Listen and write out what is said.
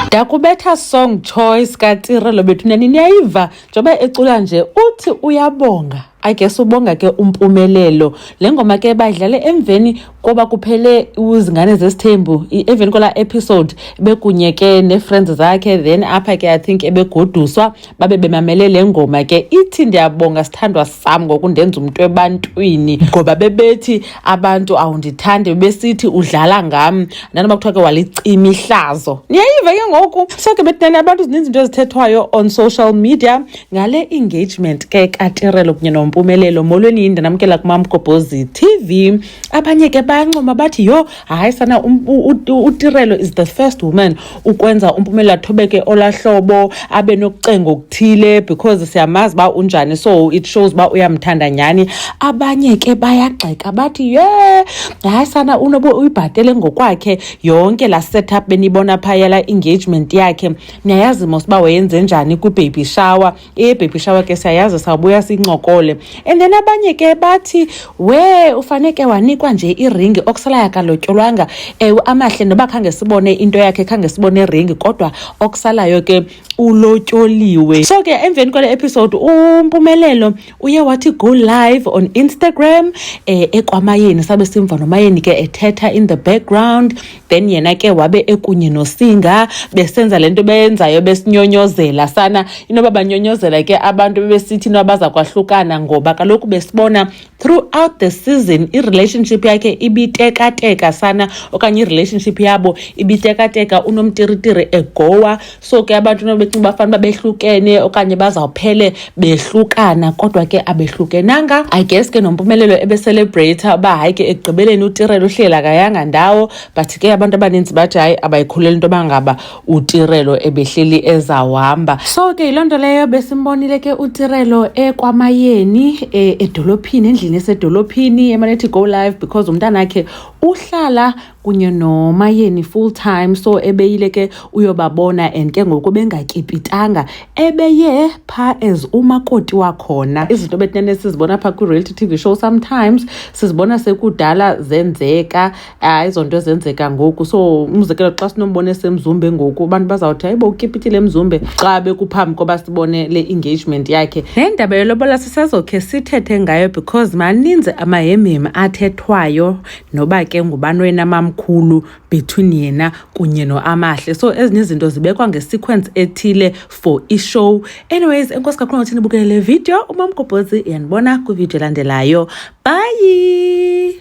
ndakubetha song choice katirelo bethu nani niyayiva njengoba ecula nje uthi uyabonga I guess ubonga ke umpumelelo le ngoma ke bayidlale emveni koba kuphele uzingane zesithembu emveni kwala episode bekunye ke ne-friends zakhe then apha ke i think ebegoduswa babe bemamele le ngoma ke ithi ndiyabonga sithandwa sam ngokundenza umntu ebantwini ngoba bebethi abantu awundithandi bebesithi udlala ngam nanoba kuthiwa ke walicima ihlazo niyayiva ke ngoku so ke betinani abantu zininzi into ezithethwayo on social media ngale engagement ke katirelo kunye nompumelelo molweni yinde namkela kumamgobhozi tv abanye ke bayancoma bathi yho hayi sana um, utirelo is the first woman ukwenza umpumelelo athobeke olahlobo abe nokucenga okuthile because siyamazi uba unjani so it shows uba uyamthanda nyhani abanye ke bayagxeka bathi ye hayi sana unobe uyibhatele ngokwakhe yonke laa setup beniyibona phaya la engagement yakhe niyayazi mos uba wayenze njani kwibaby shower ibaby shower ke siyayazi sawubuya sincokole and then abanye ke bathi we ufaneke wanikwa nje iringi okusalayo akalotyolwanga ewe amahle noba khange sibone into yakhe khange sibone iringi kodwa okusalayo ke ulotyoliwe so ke emveni kwale episode umpumelelo uye wathi go live on instagram um eh, ekwamayeni sabe simva nomayeni ke ethetha in the background then yena ke wabe ekunye nosinga besenza le nto beyenzayo besinyonyozela sana inoba banyonyozela ke abantu bebesithi inoba baza kwahlukana ngoba kaloku besibona throughout the season irelationship yakhe ibitekateka sana okanye irelationship yabo ibitekateka unomtiritiri egowa so ke abantu nobecinga uba fanuba behlukene okanye bazawuphele behlukana kodwa ke abehlukenanga i guess ke nompumelelo ebecelebrata uba hayi ke ekugqibeleni utirelo uhlela kayanga ndawo but ke abantu abaninzi bathi hayi abayikhuleli into yoba ngaba utirelo ebehleli ezawuhamba so ke yiloo nto leyo besimbonile ke utirelo ekwamayeni e, edolophini endlini esedolophini emanethi go live because umntanakhe uhlala kunye nomayeni full time so ebeyile ke uyobabona and ke ngoku bengatyipitanga ebeye phaa as umakoti wakhona izinto betinene sizibona phaa kwi-reality t v show sometimes sizibona sekudala zenzeka hayi izo nto zenzeka ngoku so umzekelo xa sinombona esemzumbe ngoku abantu bazawuthi hayibo utyipitile emzumbe xa bekuphambi koba sibone le engagement yakhe le ndaba yolobola sisazokhe sithethe ngayo because maninzi amahemhemi athethwayo noba ke ngubani wena mamkhulu between yena kunye noamahle so ezinye izinto zibekwa ngesequence ethile for ishow anyways enkosi kakhulu ngothi nibukele le video umamgobhozi yandibona kwividiyo elandelayo bye